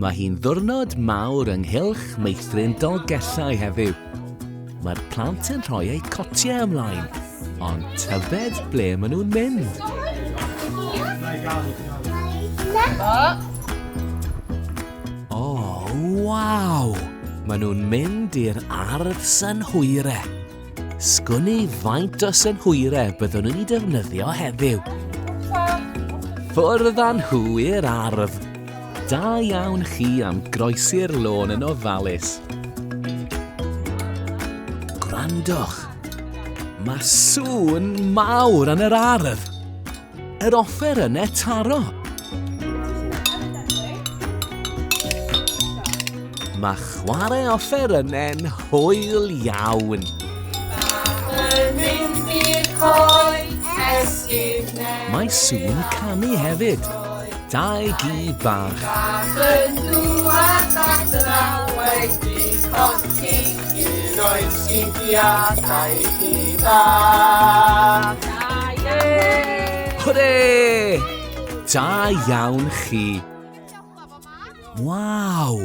Mae hi'n ddwrnod mawr ynghylch meithrin Dolgellau heddiw. Mae'r plant yn rhoi eu cotiau ymlaen, ond tyfed ble maen nhw'n mynd. O, oh, waw! Maen nhw'n mynd i'r ardd synhwyre. Sgwni faint o synhwyrau byddwn yn ei defnyddio heddiw. Ffwrdd â nhw i'r ardd. Da iawn chi am groesi'r lôn yn ofalus. Gwrandwch, mae sŵn mawr yn yr ardd. Yr offer yn e taro! Mae chwarae offer yn e'n hwyl iawn. Mae Sŵn canu hefyd. Dau gi bach. Ac yn dŵad at yr always di colli un o'i sgidiau dau gi bach. Hwre! Da iawn chi. Waw!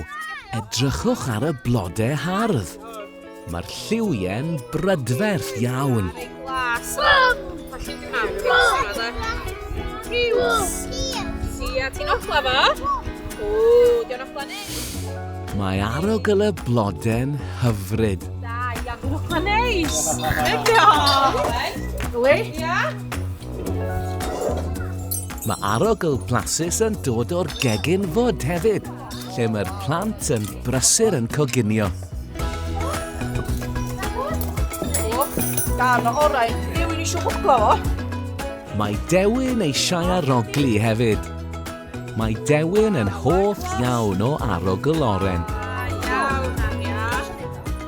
Edrychwch ar y blodau hardd. Mae'r lliwie'n brydferth iawn. Glas. Sia, ti'n ochla fo? O, diolch ochla neis. Mae arogl y blode'n hyfryd. Da, iawn, diolch ochla neis. Diolch. Gwy? Ia. Mae arogl blasus yn dod o'r gegin fod hefyd. lle mae'r plant yn brysur yn coginio. Dan o orau, rhywun eisiau hwglo fo. Mae Dewin eisiau arogli hefyd. Mae Dewin yn hoff iawn o arogl oren.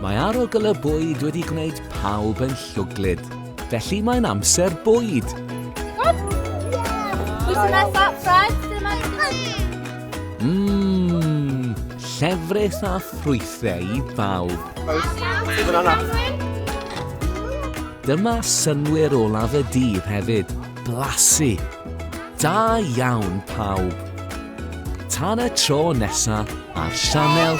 Mae arogl y bwyd wedi gwneud pawb yn llwglyd. Felly mae'n amser bwyd! Mmm, llefrith a ffrwythau i bawb. Dyma synwyr olaf y dydd hefyd, blasu. Da iawn pawb. Tan y tro nesa ar sianel...